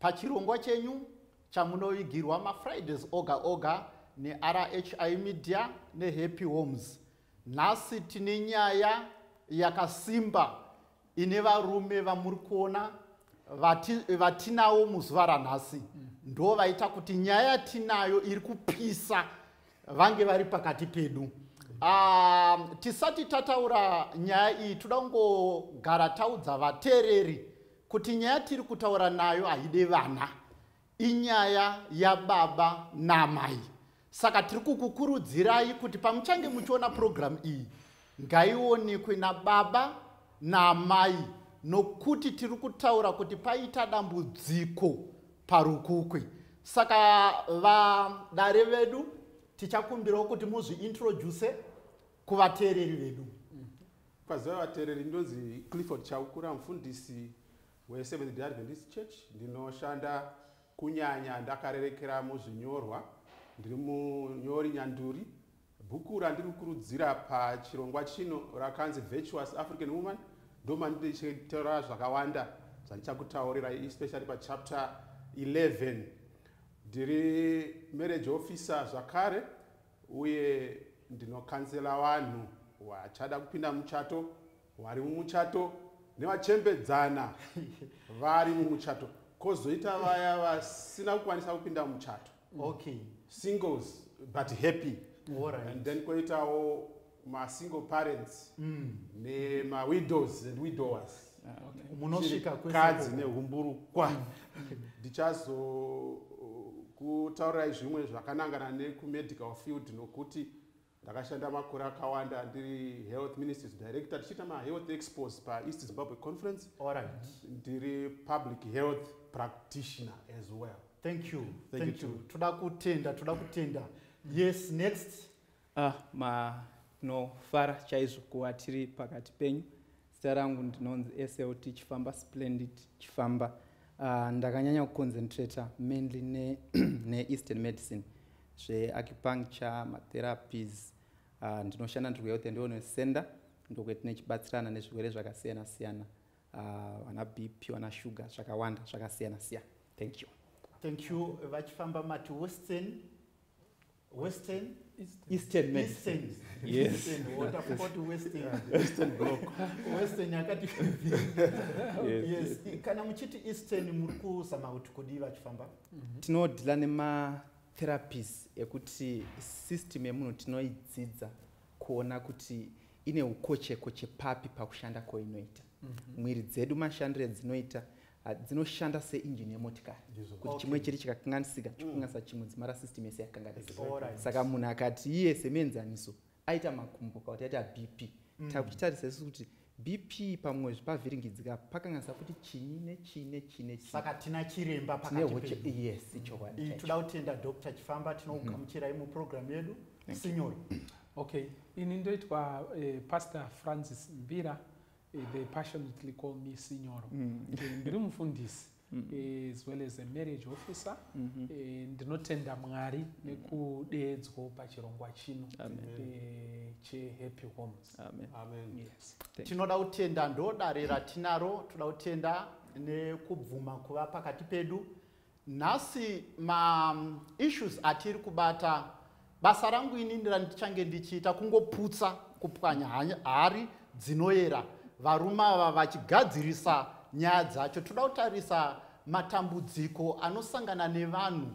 Pachirongwa chenyu chamunovigirwa maFridays oga oga neRHI Media neHappy Homes, nhasi tine nyaya yakasimba ine varume vamuri kuona vatinawo muzuva ranhasi ndo vaita kuti nyaya yatinayo iri kupisa vange vari pakati pedu ah, tisati tataura nyaya iyi toda kungogara taudza vateereri kuti nyaya tiri kutaura nayo haide vana inyaya yababa namai saka tiri kukukurudzirai kuti pamuchange muchiona purogiramu iyi ngaionekwe nababa naamai nokuti tiri kutaura kuti paita dambudziko parukukwe saka vadare vedu tichakumbirawo kuti muzviintroduse kuvateereri vedu Kwaziva vatereri ndonzi Clifford Chaukura mfundisi we Seventh Day Adventist Church ndinoshanda kunyanya ndakarerekera muzvinyorwa ndiri munyori nyanduri bhuku randiri kukurudzira pachirongwa chino rakanzi Virtuous African Woman ndomandichitaura zvakawanda zvandichakutaurirai especially pachapter 11 ndiri marriage officer zvakare uye ndinokansela vanhu vachada kupinda muchato vari mumuchato nevachembedzana vari mumuchato kozoita vaya vasina kukwanisa kupinda muchato okay. singles but happy right. and then koitawo masingle parents mm. nemawidows and widowers ah, munosvika kadzi nehumburukwa mm. ndichazokutaurirai uh, zvimwe zvakanangana nekumedical field nokuti ndakashanda makore akawanda ndiri health ministries director tichiita mahealth expos paeast zimbabwe conference right. ndiri public health practitioner as well thank you thank, thank you toda kutenda toda kutenda yes next Ah, manofara chaizvo kuva tiri pakati penyu. Zita rangu ndinonzi SLT Chifamba Splendid Chifamba. Uh, ndakanyanya kuconcentrata mainly ne, ne eastern medicine zveacupuncture matherapies uh, ah, ndinoshanda ndiri kuhealth and wellness center ndokwetine chibatsirana nezvirwere zvakasiyana siyana ah, vana uh, bp vana sugar zvakawanda zvakasiyana siyana thank you thank you vachifamba mati western western eastern medicine yes watapoti western western block western yakati yes. yes kana muchiti eastern muri kuzama kuti kudii vachifamba mhm. tinodila nematherapies ekuti system yemunhu tinoidzidza kuona kuti ine ukochekoche papi pakushanda kwainoita mhm. mwiri dzedu mashandiro edzinoita Ah, dzinoshanda seinjini yemotikari kuti chimwe chiri chikakanganisika mm. chikukanganisa chimwe dzimara system yese yakanganisika saka munhu akati iye semuenzaniso aita makumbo kauti aita bp mm. takuchitarisa isu kuti bp pamwe zvipavhiringidzika pakanganisa futi chinyi nechii nechii nechsaka tina chiremba pakatiyes ichokwadi mm. toda kutenda dr chifamba tinokugamuchirai mm-hmm. mupurogiramu yedu sinyoro okay ini ndoitwa eh, pastor francis mbira Eh, they passionately call me sinyoro mm. eh, ndiri mufundisi mm. eh, as well as a marriage officer mm-hmm. ndinotenda mwari mm. nekudeedzwo pachirongwa chino chehappy homes tinoda kutenda ndodare ratinaro toda kutenda nekubvuma kuva pakati pedu nhasi ma issues atiri kubata basa rangu inini randichange ndichiita kungoputsa kupwanya hari dzinoyera varume ava vachigadzirisa nyaya dzacho toda kutarisa matambudziko anosangana nevanhu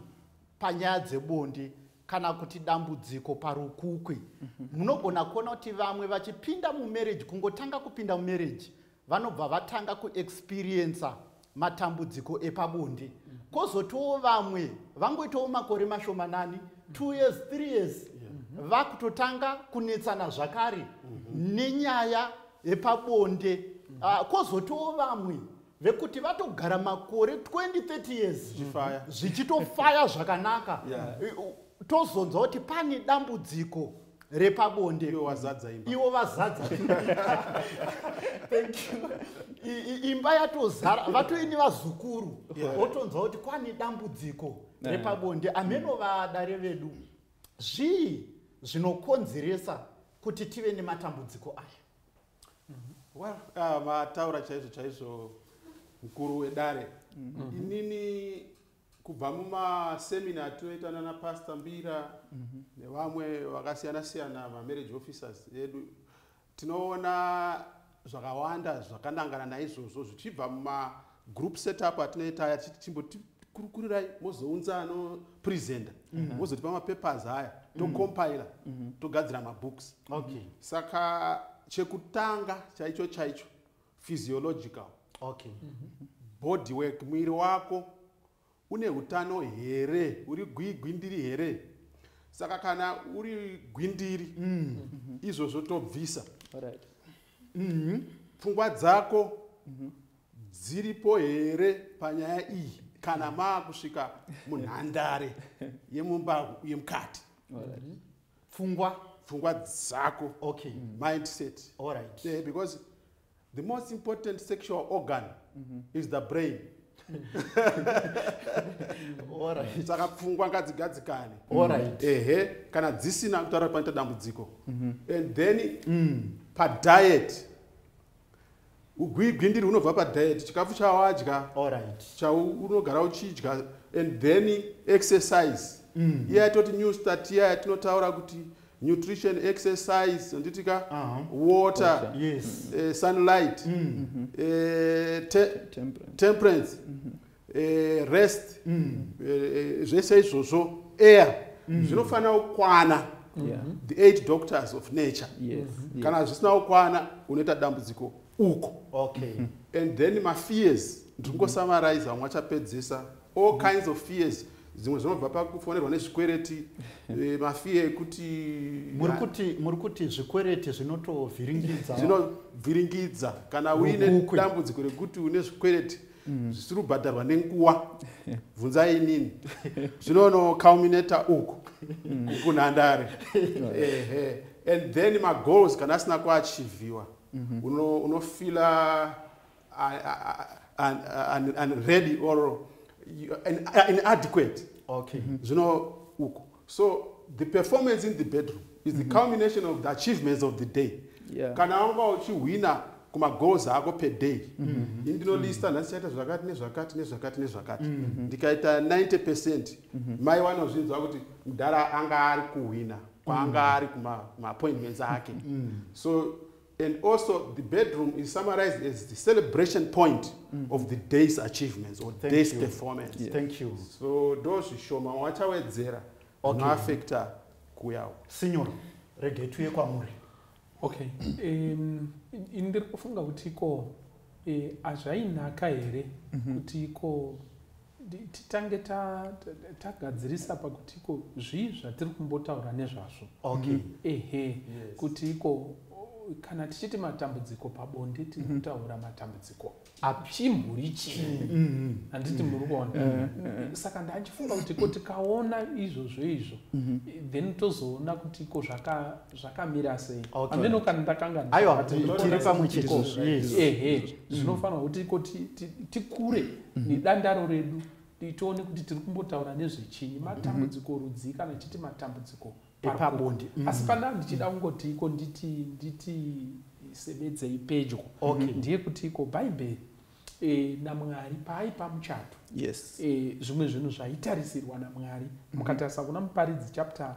panyaya dzebonde kana kuti dambudziko parukukwi mhm. munogona kuona kuti vamwe vachipinda mumarriage kungotanga kupinda mumarriage vanobva vatanga kuexperiencer matambudziko epabonde kozotiwo vamwe vangoitawo makore mashomanani two years three years vakutotanga kunetsana zvakare nenyaya yepabonde ah, kozotiwo vamwe vekuti vatogara makore 2030 years zvichitofaya zvakanaka tozonzwa kuti pane dambudziko repabonde iwo wazadza imba iwo vazadza thank you imba yatozara vatoini vazukuru otonzwa kuti kwane dambudziko repabonde ameno vadare vedu zvii zvinokonzeresa kuti tive nematambudziko aya well uh, vataura chaizvo chaizvo mukuru wedare mm-hmm. inini kubva mumasemina atinoita nana pastor mbira mm -hmm. nevamwe vakasiyana siyana mamarriage officers edu tinoona zvakawanda zvakanangana naizvozvo zvichibva mumagroup setup atinoita aya tichiti chimbotikurukurirai mozounza anopresenta mm -hmm. mozotipa mapapers aya mhm. tocompila mm -hmm. togadzira mabooks okay. saka chekutanga chaicho chaicho physiological okay mm -hmm. body work mwiri wako une utano here uri gwigwindiri here saka kana uri gwindiri mm. mm -hmm. izvozvo tobvisa right. mm -hmm. pfungwa dzako mm -hmm. dziripo here panyaya iyi kana maakusvika munhandare yemumba yemukati right. pfungwa pfungwa dzako okay mm. mindset all right yeah, because the most important sexual organ mm -hmm. is the brain saka pfungwa ngadzigadzikane ehe kana dzisina kutaura panoita dambudziko mhm. and then mm. padiet ugwigwindiri hunobva padiet chikafu chawadya chaunogara uchidya and then exercise mm. iye atoti new start iya yatinotaura kuti nutrition exercise anditika uh -huh. water, water. Yes. Uh, sunlight mm -hmm. uh, te temperance, temperance. Mm -hmm. e, rest mm. e, zvese izvozvo air mm. zvinofanira kukwana yeah. the eight doctors of nature yes. Mm-hmm. kana zvisina kukwana unoita dambudziko uko okay. and then mafears ndingosummarize vamwe vachapedzisa all kinds of fears mm -hmm zvimwe zvinobva pakufonerwa nezvikwereti eh, mafiye ekuti muri kuti zvikwereti zvinotovhiringidza zvinovhiringidza kana uine dambudziko rekuti une zvikwereti mm. zvisiri kubhadharwa nenguwa bvunzai inini zvinono culminator uku mm. kunhandare ehe and then magoals kana asina kuachivhiwa mm-hmm. unofila unready or inadequate zvino uku so the performance in the bedroom is the mm -hmm. culmination of the achievements of the day yeah. kana wanga uchihwina kumagoals ako per day mm -hmm. ini ndinolista mm -hmm. nhasi chaita zvakati nezvakati nezvakati nezvakati mm -hmm. ndikaita 90 percent mm -hmm. mai vanozvinzwa kuti mudhara anga ari kuhwina kwaanga mm -hmm. ari kumaappointments ake mm -hmm. so And also the bedroom is summarized as the celebration point mm. of the day's achievements or Thank day's you. performance. Yes. Thank you. So those shoma wachawedzera okay. unoafekta kuyawo. Signor, rege tuye kwamuri. Okay. Um, ndiri kufunga kuti ko eh, hazvainaka here mhm. kuti ko titange tagadzirisa pakuti iko zvii zvatiri kumbotaura nezvazvo okay. Mhm. ehe yes. kuti iko kana tichiti matambudziko pabonde tiri mhm. kutaura matambudziko apchimburi chii mhm. handiti muri kuona eh, eh. saka ndachifunga kuti ko tikaona izvozvo izvo then tozoona kuti iko zvakamira sei ameno kana ndakangaaiwa tiri pamwe chete ehe zvinofanira kuti iko tikure mhm. nedandaro redu tione kuti tiri kumbotaura nezvechinyi matambudziko mhm. rudzii kana tichiti matambudziko epabonde mhm. asi pandaa ndichida kungoti iko nditi nditi sebedzei pedyo ndiye kuti iko bhaibheri e, namwari paaipa muchato yes. e, zvimwe zvinhu zvaitarisirwa namwari mukatarisa kuna muparidzi chapter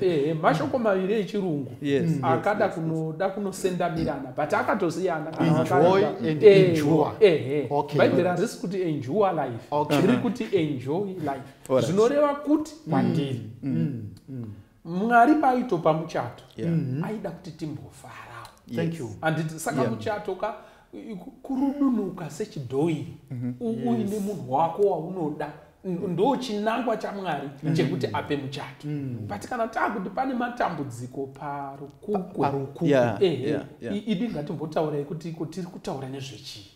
Eh, mashoko maviri echirungu mm. akada kunoda kunosendamirana but akatosiyana bhaibheri harisi kuti enjoy life riri kuti enjoy life zvinoreva kuti mm. kwandiri mm. mwari paaitopa muchato mm-hmm. aida kuti timbofarawo anditi saka muchato ka kurudunuka sechidhoiri mhm. uine munhu wako waunoda ndo chinangwa chamwari mm. chekuti ape muchato mm. but kana taakuti pane matambudziko parukuku ehe idi ngatimbotaurei kuti iko tiri kutaura nezvechii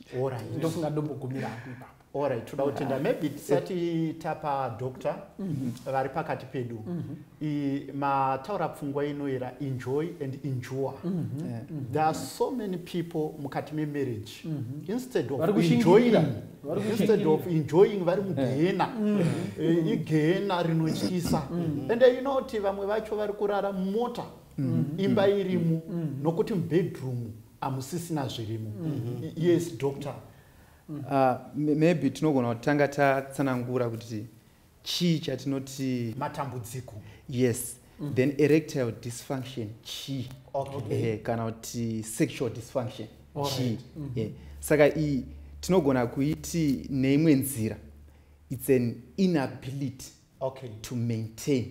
ndofunga ndombogumira apo ipapo Alright, toda kutenda maybe tisati tapa doctor mhm. vari pakati pedu mhm. mataura pfungwa inoera enjoy and endure mhm. eh, there are so many people mukati memarriage instead of enjoying instead of enjoying vari eh. mugehena eh, igehena rinotyisa and you know kuti vamwe vacho vari kurara mota imba irimu nokuti mubedroom hamusisina zvirimo yes doctor mm. uh, maybe tinogona kutanga tatsanangura kuti chii chatinoti matambudziko yes mm. then erectile dysfunction chii okay. eh, kana kuti sexual dysfunction chii right. mm -hmm. eh. saka iyi tinogona kuiti neimwe nzira it's an inability okay. to maintain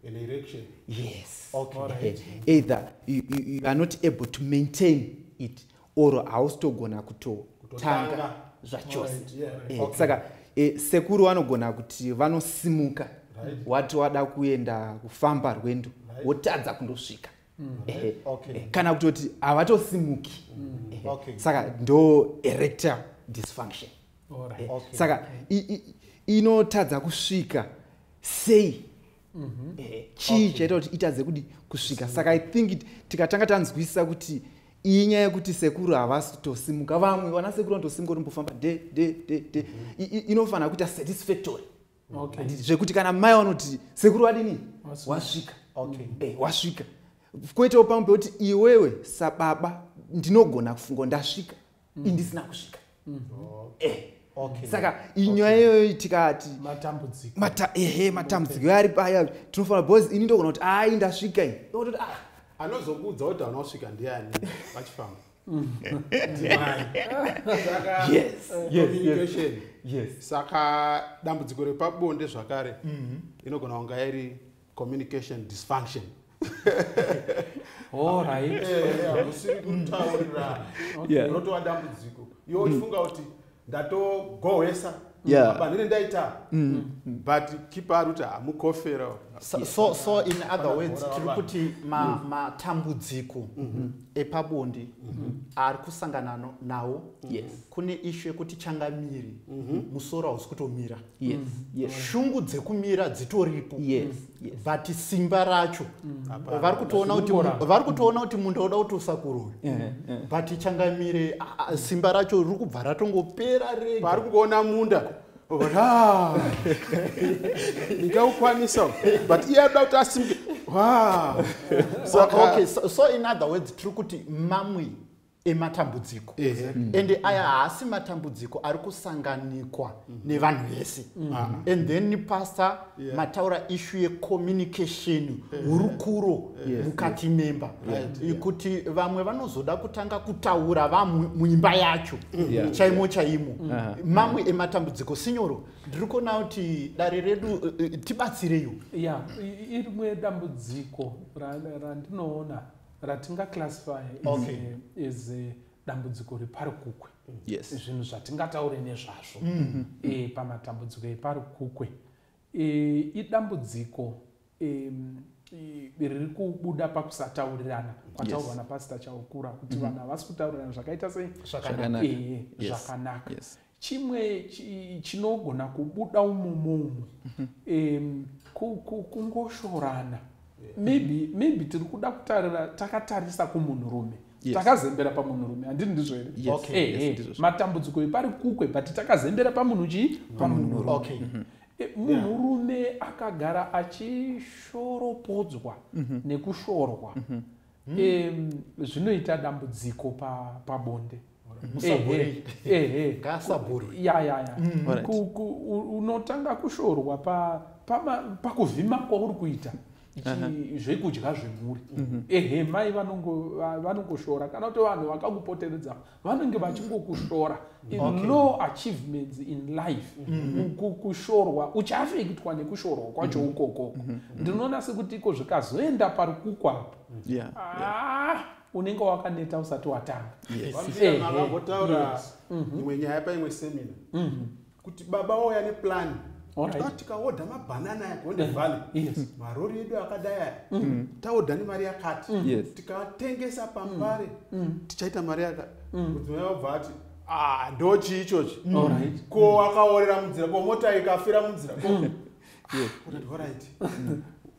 an erection yes okay. right. either you, you, you are not able to maintain it or hausitogona kutotanga zvachose right. yeah, right. Eh, okay. saka e, sekuru vanogona kuti vanosimuka right. wati wada kuenda kufamba rwendo right. wotadza kundosvika mm. eh, okay. eh, kana kutoti havatosimuki mm. eh, okay. saka ndo erector dysfunction right. eh, okay. saka inotadza kusvika sei mm -hmm. eh, chii okay. chaita kuti itadze kudi kusvika saka i think tikatanga tanzwisisa kuti iyi nyaya yekuti sekuru havasi kutosimuka vamwe vana sekuru vanotosimuka kuti mbofamba de de de de mm -hmm. inofanira kuita satisfactory okay. zvekuti kana mai vanoti sekuru vadini wasvika okay. eh, wasvika kwoitawo pamwe pekuti iwewe sababa ndinogona kufunga ndasvika mm. indisina kusvika mm. oh. eh. Okay. saka inyaya okay. iyoyo tikati matambudziko Mata, ehe matambudziko okay. ari paya tinofanira bcause ini ndogona kuti ai ndasvika ini ah. anozokuudza kuti anosvika ndiani vachifamba saka dambudziko repabonde zvakare mm-hmm. inogona kunga yairi communication dysfunction hausiri kutaurirana unotova dambudziko yo uchifunga kuti ndatogohwesa yeah. mapanhire ndaita mm. mm. but kipa ari kuti hamukofera so, so, so in other words tiri kuti mm. matambudziko ma mm -hmm. epabondi mm -hmm. ari kusangana nawo yes. kune ishu yekuti changamiri mm -hmm. musoro hausi kutomira yes, mm. yes. shungu dzekumira dzitoripo yes, mm. yes. but simba racho mm. vari kutoona kuti vari kutoona kuti munda uda kuti usakuroya yeah, yeah. but changamire simba racho riri kubva ratongopera rega vari kuona munda ndikaukwanisa but iye ada kuti asimuke okay so, so in other words tiri kuti mamwe ematambudziko ende aya haasi matambudziko ari kusanganikwa mhm. nevanhu vese mhm. ah. and then pastor mataura ishu yecommunication hurukuro mukati memba kuti vamwe vanozoda kutanga kutaura vamwe muimba yacho mhm. chaimo chaimo ah. mamwe ematambudziko sinyoro ndiri kuona kuti dare redu eh, eh, tibatsireyo ya irimwe dambudziko randinoona ratinga classify okay. is uh, dambudziko repari kukwe yes. zvinhu zvatingataure nezvazvo mm -hmm. e, pamatambudziko epari kukwe e, idambudziko e, riri kubuda pakusataurirana kwataurwa yes. napasita chaukura kuti mm -hmm. vanhu havasi kutaurirana zvakaita sei zvakanaka yes. yes. chimwe chinogona kubuda umomo umo um, kungoshorana maybe maybe tiri kuda kutarira takatarisa kumunhurume yes. takazembera pamunhurume handii ndizvo here yes. okay. hey, eh, yes, hey. Eh, matambudziko epari kukwe but takazembera pamunhu chii pamunhurume okay. mm -hmm. Eh, munhurume akagara achishoropodzwa mhm. nekushorwa mhm. hmm. um, zvinoita dambudziko pabonde unotanga kushorwa pakuvhima kwauri kuita zvekudya zvemhuri mhm. ehe mai vanongoshora kana kuti vanhu vakakupoteredza vanenge vachingokushora in okay. no achievements in life mm-hmm. kushorwa uchafekitwa nekushorwa kwacho mm-hmm. ukokoko mm-hmm. ndinoona sekuti iko zvikazoenda pari kukwapo yeah, ah, yeah unenge wakaneta usati watanga vambotaura imwe nyaya paimwe semina mhm. kuti baba wauya neplan tikaodha mabhanana aya gonde eh, valley marori edu akadai aya mm. mm. taodha nemari yakati mm. tikatengesa pambare tichaita mari yakati mudzimai wabva ati ah, ndochii ichochi ko akaorera munzira ko mota ikafira munzira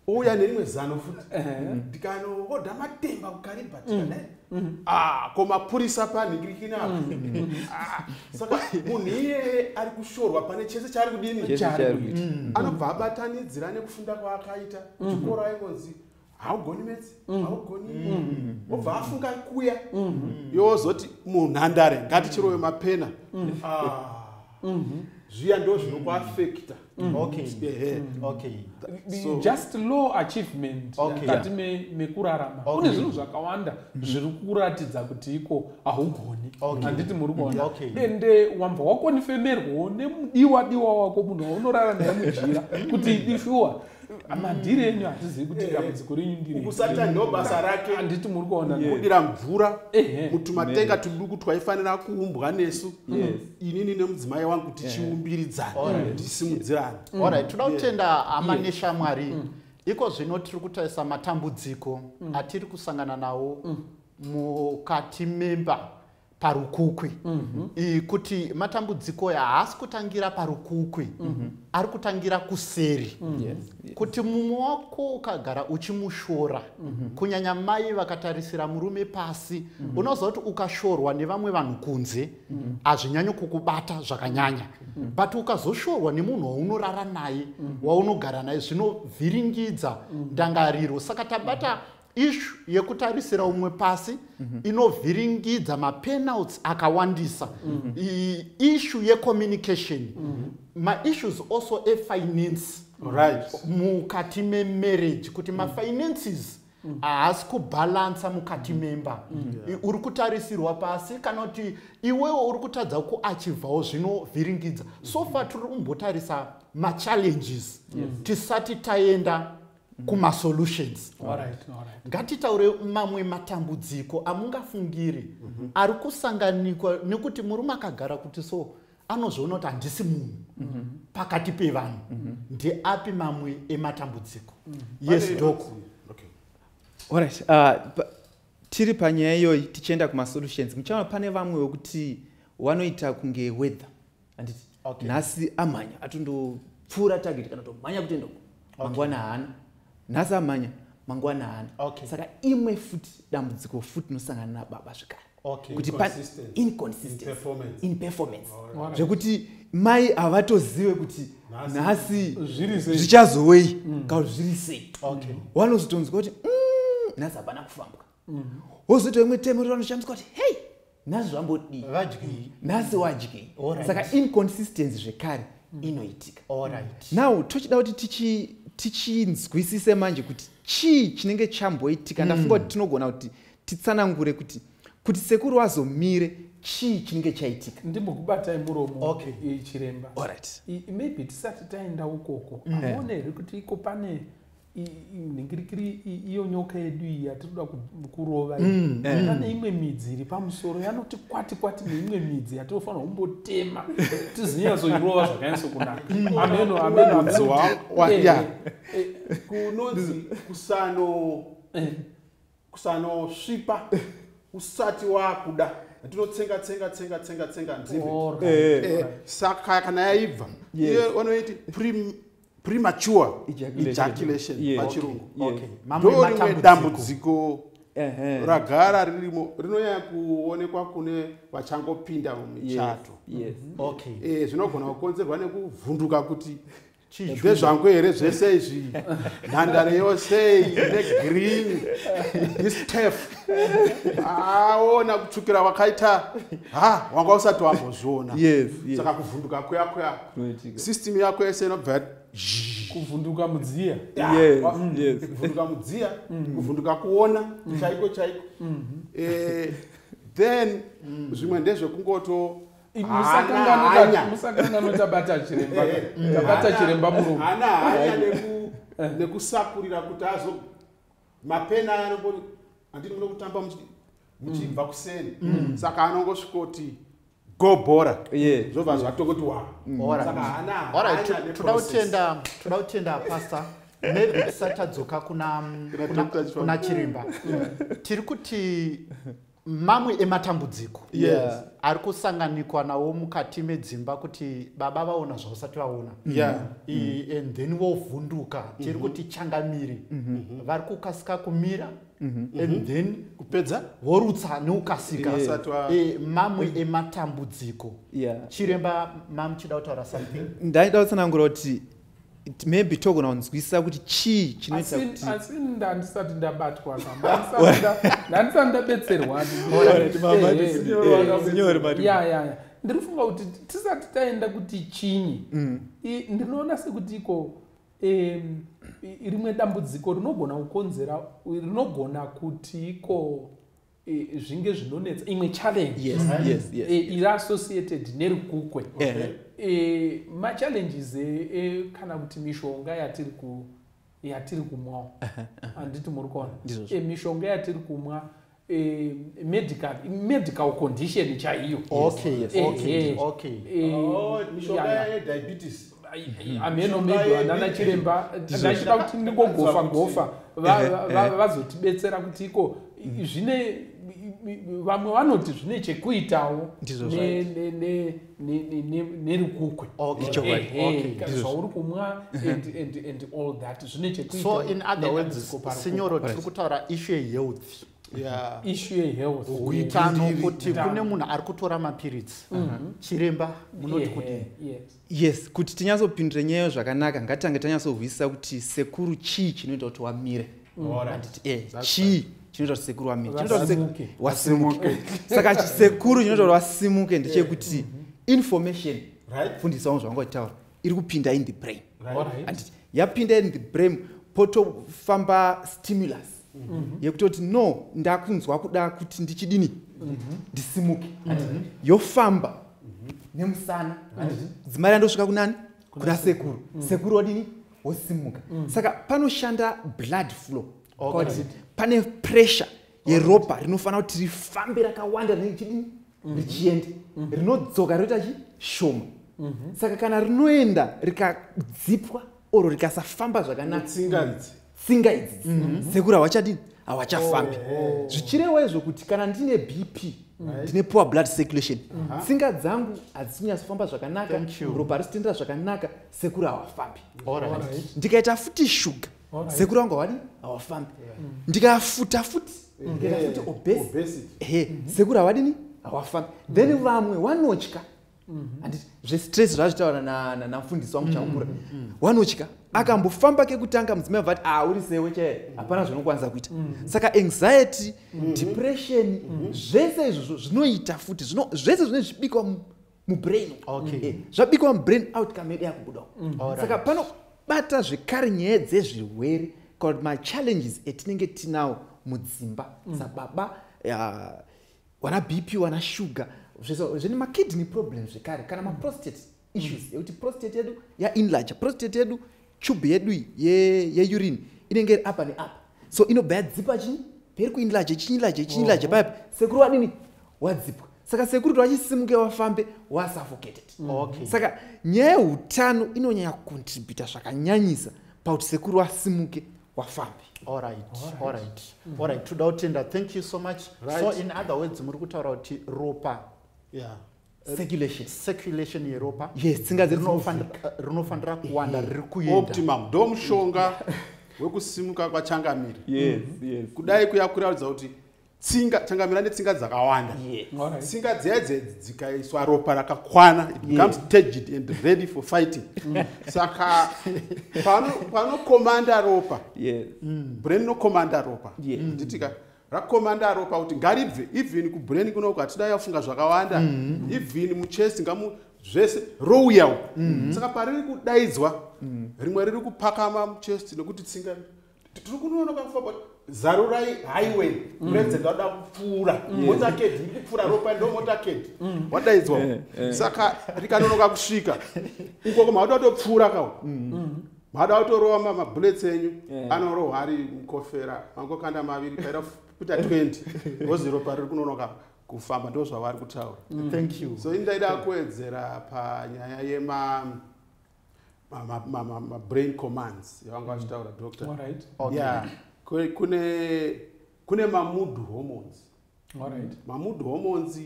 uya nerimwe zano futi eh. ndikanohodha matemba kukaribati mm. kadae mm. ah, ko mapurisa panhikirikina mm. ah, saka munhu iyeye ari kushorwa pane chese chaari kudini anobva abatanidzira nekufunda kwaakaita chikoro aingonzi haugoni mets mm. haugoni mm. obva afunga kuya mm. yozoti munhandare ngatichirove mapena ah. mm-hmm. zviya ndo zvinokuafekta just low achievement kati mekurarama kune zvinhu zvakawanda zviri kuratidza kuti iko haugoni handiti muri kuona and eh, wambva wakonifemerwawo nemudiwa diwa wako munhu waunorara naye mujira kuti idishuwa madhiri enyu hatizivi kuti eh, dambudziko renyu ndirikusata ndo basa rake handiti muri kuona kudira mvura mutumatenga tuduku twaifanira kuumbwa nesu inini nemudzimai wangu tichiumbiridzana tisimudzirana orit toda kutenda ama neshamwari mm. iko zvino tiri kutarisa matambudziko mm. atiri kusangana nawo mm. mukati memba parukukwi mm -hmm. kuti matambudziko ya haasi kutangira parukukwi mm -hmm. ari kutangira kuseri mm -hmm. yes. Yes. kuti mumwe wako ukagara uchimushora mm -hmm. kunyanya mai vakatarisira murume pasi mm -hmm. unoziva kuti ukashorwa nevamwe vanhu kunze mhm. hazvinyanyi mm -hmm. kukubata zvakanyanya mm -hmm. but ukazoshorwa nemunhu waunorara naye mm -hmm. waunogara naye zvinovhiringidza mhm. ndangariro saka tabata mm -hmm ishu yekutarisira umwe pasi mm -hmm. inovhiringidza mapenalts akawandisa mm -hmm. ishu yecommunication mm -hmm. maissues also efinance right. mukati memarriage kuti mm -hmm. mafinances mm. haasi mm. kubhalansa mukati mm. memba mm. yeah. uri kutarisirwa pasi kana kuti iwewe uri kutadza kuachivhawo zvinovhiringidza mm. so far tiri kumbotarisa machallenges yes. tisati taenda mm. kumasolutions ngatitaure mamwe matambudziko amungafungiri mhm. ari kusanganikwa nekuti murume akagara kuti so anozviona kuti handisi munhu mhm. pakati pevanhu mhm. ndeapi mamwe ematambudziko yes dok orit uh, tiri panyaya iyoyi tichienda kumasolutions muchaona pane vamwe wekuti wanoita kunge weather anditi okay. nhasi amhanya atondopfuura target kana tomhanya kutenda uko okay. mangwana haana nhasi amhanya mangwana haana okay. saka imwe futi dambudziko futi nosangana nababa zvekare okay. kuti inconsistencyinperformance right. zvekuti mai havatozive kuti nhasi zvichazowei mm. kauzviri sei okay. wanozotonzwa kuti mm, nhasi hapana kufambwa mm-hmm. wozoita imwe temo ri vanoshandiswa kuti hei nhasi zvambodii vadyei nhasi wadyei saka inconsistency zvekare mm. inoitika now tochida kuti tichi tichinzwisise manje kuti chii chinenge chamboitika mm. ndafunga kuti tinogona kuti titsanangure kuti kuti sekuru wazomire chii chinenge chaitika ndimbokubatai muromo okay. chiremba right. maybe tisati taenda ukoko mm. aone here kuti iko pane nhingirikiri iyo nyoka yedu iyi yatinoda kurova mm. eh. pane imwe midzi iri pamusoro yanoti kwati kwati neimwe midzi yatinofanira kumbotema tizinyatsoirova zvakanyatso kunaka mm. ameno amenoaekunonzi eh, eh, kusano kusanosvipa usati wakuda tinotsenga tsenga tsenga tsenga tsenga nzimbe eh, eh, saka kana yaibva iye vanoiti premature ejaculation pachirungu ndorimwe dambudziko ragara ririmo rinonyanya kuonekwa kune vachangopinda mumichato mhm. eh, zvinogona kukonzerwa nekuvhunduka kuti ndezvangu here zvese izvi nhandare yose ine green istef aona kutsvukira wakaita ha wanga usati wambozviona saka kuvhunduka kuya kuya system yako yese inobva kuvhunduka mudziya kuvhunduka mudziya mm. kuvhunduka kuona mm. chaiko chaiko mm-hmm. eh, then mm. zvimwe ndezvekungoto musakangano tabata chiremba eh, eh, tabata chiremba murume hana hanya eh. nekusakurira kuti azo mapena aya anongoti handini muno kutamba muchibva mm. kuseni mm. saka anongosvikoti go bora zvobva zvatokoti watoda kutenda pasta maybe tisatadzoka kuna chiremba tiri kuti mamwe ematambudziko yes. ari kusanganikwa nawo mukati medzimba kuti baba vaona zvausati vaona yeah. mm. and then vovhunduka mm -hmm. tiri mhm. kuti changamiri mm -hmm. vari kukasika kumira mm -hmm. and mhm. then kupedza vorutsa neukasika yeah. e, mamwe mm -hmm. ematambudziko yeah. chiremba mamuchida kutaura something ndaida kutsanangura kuti maybe togona kunzwisisa kuti chii chinoitaasi ndandisati ndabatwa ndandisati ndabetserwa ndiri kufunga kuti tisati taenda kuti chinyi mm. ndinoona sekuti iko rimwe dambudziko rinogona kukonzera rinogona kuti iko e, zvinge zvinonetsa imwe challenge yes, mm -hmm. yes, yes, e, yes. iri associated nerukukwe okay. uh -huh. e, machallenges e, e, kana kuti mishonga yatiri ku yatiri kumwawo handiti muri kuona e, mishonga yatiri kumwa e, medical medical condition chaiyo okay, yes. okay, e, okay. E, oh, mishonga yediabetes hameno maybe vanana chiremba ndachida kuti ndingogofa gofa vazotibetsera kuti iko zvine vamwe vanoti zvine chekuitawo nerukukwe zvauri kumwa and all that zvine chekuitaso in other words sinyoro tiri kutaura ishu yehealth ishu yehealth kuitano kuti kune munhu ari kutora mapiritsi mhm. chiremba munoti kuti yes kuti tinyatsopindure nyaya zvakanaka ngatitange tanyatsohwisisa kuti sekuru chii chinoita kuti wamire eh, chii chinoita kuti sekuru wamire wasimuke saka chisekuru chinoita kuti wasimuke ndechekuti eh. mhm. information fundisawo zvavanga uchitaura iri kupinda in the brain anditi yapinda in the brain potofamba stimulus Mm-hmm. yekutoti no ndakunzwa kuda kuti ndichidini mm-hmm. ndisimuke mm-hmm. yofamba nemusana dzimai randosvika kunani kuna sekuru mm. sekuru wadini wosimuka mm. saka panoshanda blood flow pane pressure yeropa rinofanira kuti rifambe rakawanda rinenge chidini richienda rinodzoka rinoita chi shoma saka kana rinoenda rikadzipwa or rikasafamba zvakanaka tsinga idzi tsinga idzi mhm. sekura hawachadini hawachafambi oh. zvichirewa izvo kuti kana ndine bp ndine poor blood circulation mhm. tsinga dzangu hadzisinyatsofamba zvakanaka ropa risitendera zvakanaka sekura hawafambi ndikaita futi shuga sekura wangu hawadi hawafambi mm. ndikafuta futi ndikaita futi obesity sekura hawadini hawafambi then mm. vamwe wanotya Mm-hmm. and zvestress zvazvitaura namfundisi wangu chakukura mm, mm, mm. wanotya akambofamba kekutanga mudzimai vati ah uri sewe chaye hapana zvinokwanisa kuita saka anxiety mm-hmm. depression mm-hmm. zvese izvozvo zvinoita futi zvese zvine zvibikwa mubrain eh, zvabikwa mubrain outcome yedu yakubuda saka panobata zvekare nyaya dzezvirwere kana kuti machallenges etinenge tinawo mudzimba sababa wana bp wana sugar zvine makidney problem zvekare kana maprostate issues mm. yekuti prostate yedu yainlarge prostate yedu tube yedu yeurine inenge iri apa neapa so inobva yadzipa chii peri kuinlarge chiinlarge chiinlarge paipi sekuru wadini wadzipwa saka sekuru towachisimuke wafambe wasuffocated mm. okay. saka nyaya yeutano inonyanya kucontributa zvakanyanyisa pakuti sekuru asimuke wafambi alright alright mhm. alright toda kutenda thank you so much right. so in other words muri kutaura kuti ropa yeah circulation circulation yeropa yes tsinga dzerinofanira eh, kuwanda riri kuenda optimum ndo mushonga wekusimuka kwachangamiri yes yes kudai kuya kuraudza kuti tsinga changamira netsinga dzakawanda tsinga dziya dzedzi dzikaiswa ropa rakakwana it becomes taged and ready for fighting mm. saka panokomanda ropa mm. brain inokomanda ropa nditika mm. rakomanda ropa kuti ngaribve even kubrain kunoku hatida yafunga zvakawanda mm-hmm. even muchest ngamu zvese rouya uku mm-hmm. saka pariri kudaidzwa rimwe riri kupakama muchest nekuti tsinga tiri kunoona kwakufa but zarurai highway mm. president wada kupfuura motaked iri kupfuura ropa ndo motaked mm. wadaidzwa eh, eh. saka rikanonoka kusvika uko koma wada kutopfuura kawo mm. mada kutorowa mabullets enyu eh. anorohwa ari mukofera mangokanda maviri paira kuita 20 rozi ropa riri kunonoka kufamba ndo zvavari kutaura so indaida kuwedzera panyaya yema mabrain commands yavanga mm. vachitaura doctor yeah kune kune mamood hormones mamood hormones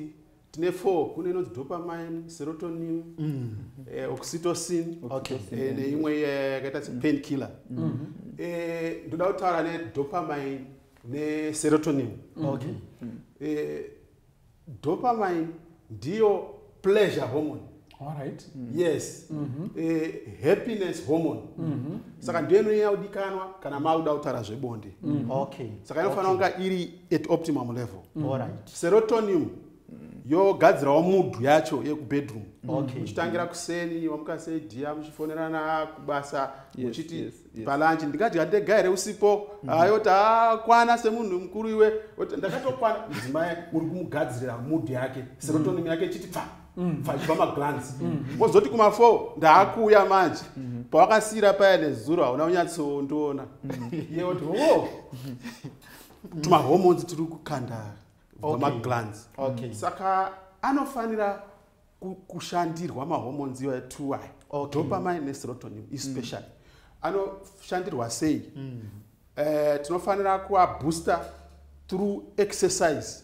tine four kune inonzi dopamine serotonin mm. eh, oxytocin eh, neimwe iya yakaita sepain killer mm. eh, ndoda kutaura nedopamine neserotonin dopamine ndiyo pleasure hormone Alright. Mm. yes mm -hmm. eh, happiness hormone mm -hmm. saka ndiyo inonyanya kudikanwa kana maakuda kutaura zvebonde mm -hmm. okay. saka inofanira okay. kunga iri at optimum level mm -hmm. right. serotonium yogadzirawo mudhu yacho yekubedroom okay. muchitangira kuseni wamuka sei dia muchifonerana kubasa muchiti yes, yes. yes. palanchi ndikadya ndega here usipo mm -hmm. ayoti akwana semunhu mukuru iwe oti ndakatokwana mudzimai uri kumugadzirira mudhi yake serotonim mm. yake chiti pfa mm. pfachibva maglans mm. wozoti mm. kumafour ndaakuuya manje mm -hmm. pawakasiyira paya nezuro hauna unyatsondiona mm -hmm. yeoti o oh. tumahormones tiri kukanda vamaglans okay. mm. saka anofanira kushandirwa mahormones iwayo two aya okay. dopamine neserotonin especially mm. anoshandirwa sei mm. uh, tinofanira kuabooster through exercise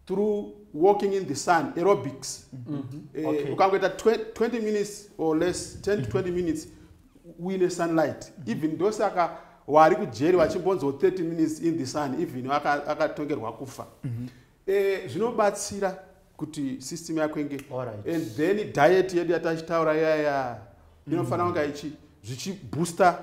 through walking in the sun aerobics mm -hmm. uh, okay. ukangoita 20 minutes or less 10 to 20 mm-hmm. minutes uine sunlight mm -hmm. even ndosaka wari kujeri vachimbonzwa 30 minutes in the sun even akatongerwa aka kufa mm -hmm. Eh, zvinobatsira kuti system yako inge and then diet yedu yatachitaura yaya mm. inofanira kunga ichi zvichibooster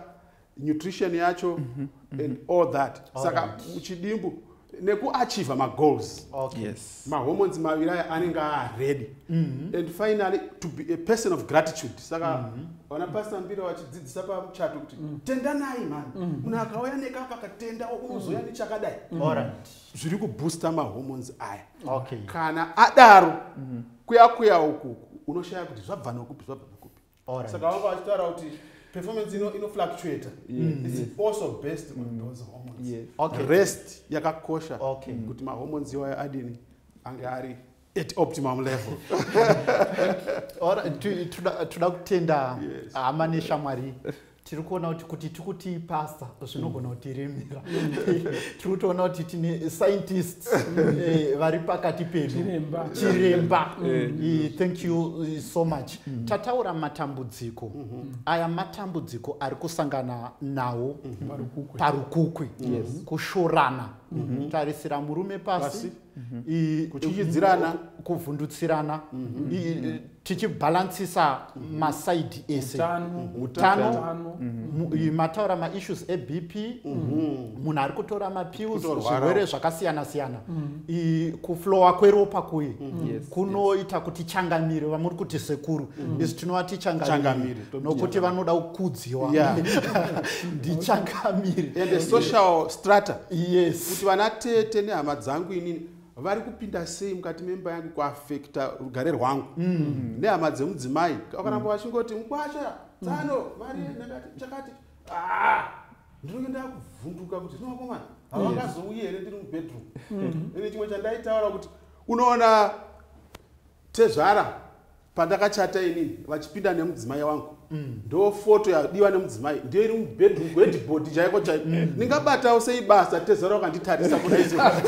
nutrition yacho mm -hmm. and mm-hmm. all that all saka right. uchidimbu nekuachiva magoals okay. yes. mahormones maviri aya anenge aaredy mm -hmm. and finally to be a person of gratitude saka mm -hmm. vana pasta mbira vachidzidzisa pamuchato kuti mm -hmm. tendanai mani mm-hmm. munhu mm -hmm. akauya nekapa katenda unozoya mm -hmm. nechakadai mm -hmm. zviri kubooster mahormones aya okay. kana adaro mm -hmm. kuya kuya uku unoshaya kuti zvabva nokupi zvabva nokupi right. saka vanga vachitaura kuti performance ino ino fluctuate mm. it's yes. also based on mm. those hormones yes. okay. rest yakakosha okay. Mm. kuti mahormones iwayo adini ange ari at optimum level toda kutenda hama neshamwari tiri kuona kuti kuti tikuti pasta zvinogona kuti remera tiri kutoona kuti tine scientists eh, vari pakati pedu chiremba eh. eh, thank you so much mm-hmm. tataura matambudziko mm-hmm. aya matambudziko ari kusangana nawo mm-hmm. parukukwe kushorana tarisira murume pasi mhm. kutyityidzirana kuvhundutsirana mhm. Mhm. tichibhalansisa masaidi ese utano mataura maissues ebp munhu ari kutora mapills zvirwere zvakasiyana siyana kuflowa kweropa kuye kunoita kuti changamire vamuri kuti sekuru isu tinova tichangamire nokuti vanoda kukudziwa ndichangamiri and the social strata yes kuti vana tete nehama dzangu inini vari kupinda sei mukati memba yangu kuafekta rugare rwangu mm. nehama dzemudzimai vakaramba mm. vachingoti mukwasha tsano mm. mari ndakati chakati ah! ndinenge ndakuvhunduka kuti zvinovakomana havangazouyi here ndiri mubedroom mm-hmm. ine chimwe chandaitaura kuti unoona tezvara pandakachata inini vachipinda nemudzimai wangu mm. ndo foto yadiwa nemudzimai ndiyo iri mubedroom wedbod chaiko chaiko mm. ndingabatawo sei basa tezara wakanditarisa kudaitoda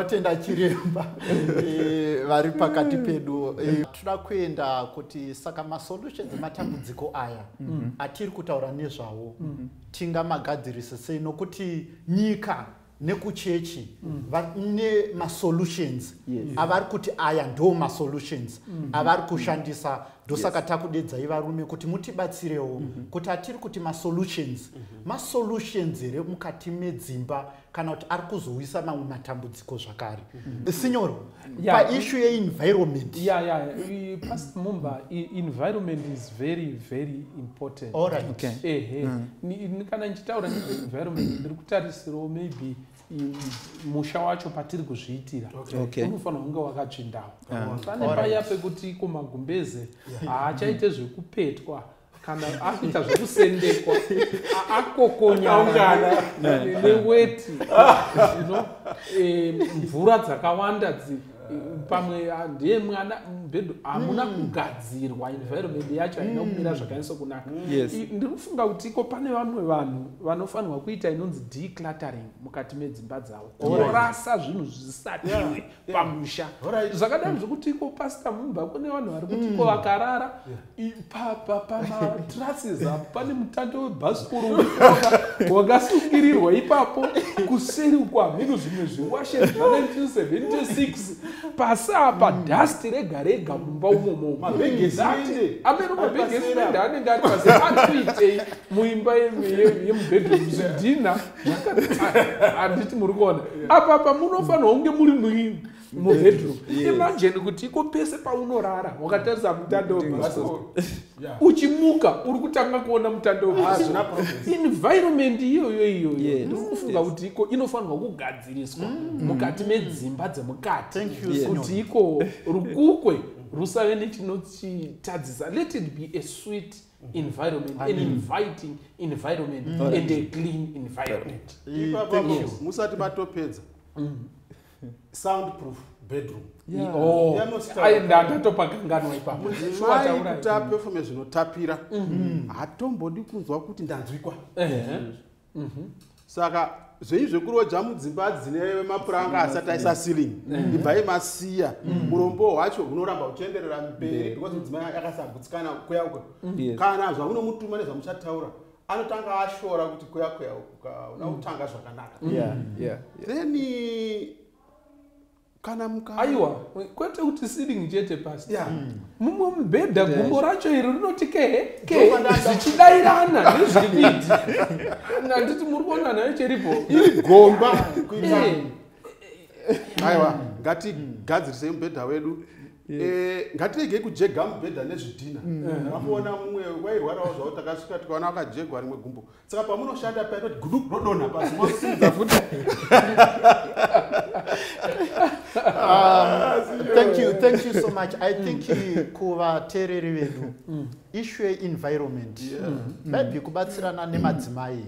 kutenda chiremba eh, vari pakati pedu eh, tinoda kuenda kuti saka masolutions ematambudziko aya mm-hmm. atiri kutaura nezvawo mm-hmm. tingamagadzirise sei nokuti nyika nekuchechi mm. vane masolutions avari kuti aya ndo masolutions mm-hmm. avari kushandisa ndosaka takudedzai varume kuti mutibatsirewo kuti atiri kuti masolutions masolutions here mukati medzimba kana kuti ari kuzouyisa mamwe matambudziko zvakare mm-hmm. sinyoro paishu yeenvironment ya ya past mumba environment is very very important ehe mm. kana ndichitaura nezveenvironment ndiri kutarisirawo maybe musha wacho patiri kuzviitira unofanira kunge wakatsvindawo ah. pane paya pekuti iko magumbeze haachaite zvekupetwa kana akuita zvekusendekwa akokonyana neweti eh, mvura dzakawanda dzi pamwe ah, ndiye mwana mubhedhu hamuna hmm. kugadzirwa environment yacho haina hmm. kumira zvakanyatso kunaka ndiri kufunga kuti iko pane vamwe vanhu vanofanirwa kuita inonzi decluttering mukati medzimba dzavo kurasa zvinhu zvisatiwe pamusha zvakadaro mm. zvekuti iko pasta mumba kune vanhu vari kuti iko mm. vakarara pamatrases apo pane mutando webhasikoro wakasungirirwa ipapo kuseri uko hameno zvimwe zviwashe zva1976 pasi apa mm. dust rega rega mumba umomo mabhegeziende ameno mabhegeziende anenge ari pasi ari kuitei muimba yemubhedroom zvidhina handiti muri kuona apapa munofanirwa kunge muri muini mubedroom imagine kuti iko pese paunorara wakatarisa mutando uchimuka uri kutanga kuona mutando environment iyoyo iyoyo ndikufunga kuti iko inofanirwa kugadziriswa mm. mukati medzimba dzemukati kuti iko rukukwe rusave nechinochitadzisa let it be a sweet environment an inviting environment mm. and a clean environment musati matopedza mm. sound proof bedroom oh. ndatopa kanganwa ipapokutapefume zvinotapira mm-hmm. hatombodi kunzwa kuti ndanzwikwa mhm. saka zvei zvekuroja mudzimba dzine mapuranga asati aisa ceiling mhm. ibvai masiya mhm. urombo hwacho hunoramba huchienderera mberi because mudzimai akasagutsikana kuya uko kana zvamunomutuma nezvamuchataura anotanga ashora kuti kuya kuya uko kauna kutanga zvakanaka then kana muka aiwa kwete kuti sitting chete pasi yeah. mm. mumwe mubhedha yeah. gumbo racho iri rinoti kehe kehe zvichidairana nezvividi nanditi muri kuona nayo cheripo iri gomba eh. aiwa ngatigadzirisei mubhedha wedu Eh, ngatiregei kujega mubhedha nezvidhina mm. mm. apoona mumwe wairwarawo zvavo takasvika tikaona wakajegwa rimwe gumbo saka pamunoshanda paya toti gudu rodonha pasi mosimudza futi ah, thank you thank you so much i think mm. kuvateereri vedu mm. issue yeenvironment mm. maybe kubatsirana nemadzimai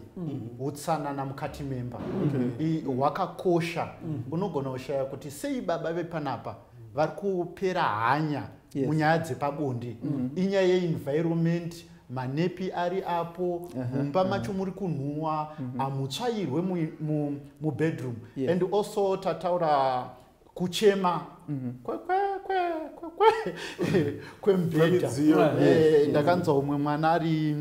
utsanana mukati memba hwakakosha unogona kushaya kuti sei baba vepanapa vari kupera hanya munyaya dzepabonde inyaya yeenvironment manepi ari apo mumba macho muri kunhuwa mhm. amutsvairwe mubedroom and also tataura kuchema mhm. kwemubhedha eh, ndakanzwa umwe mwana ari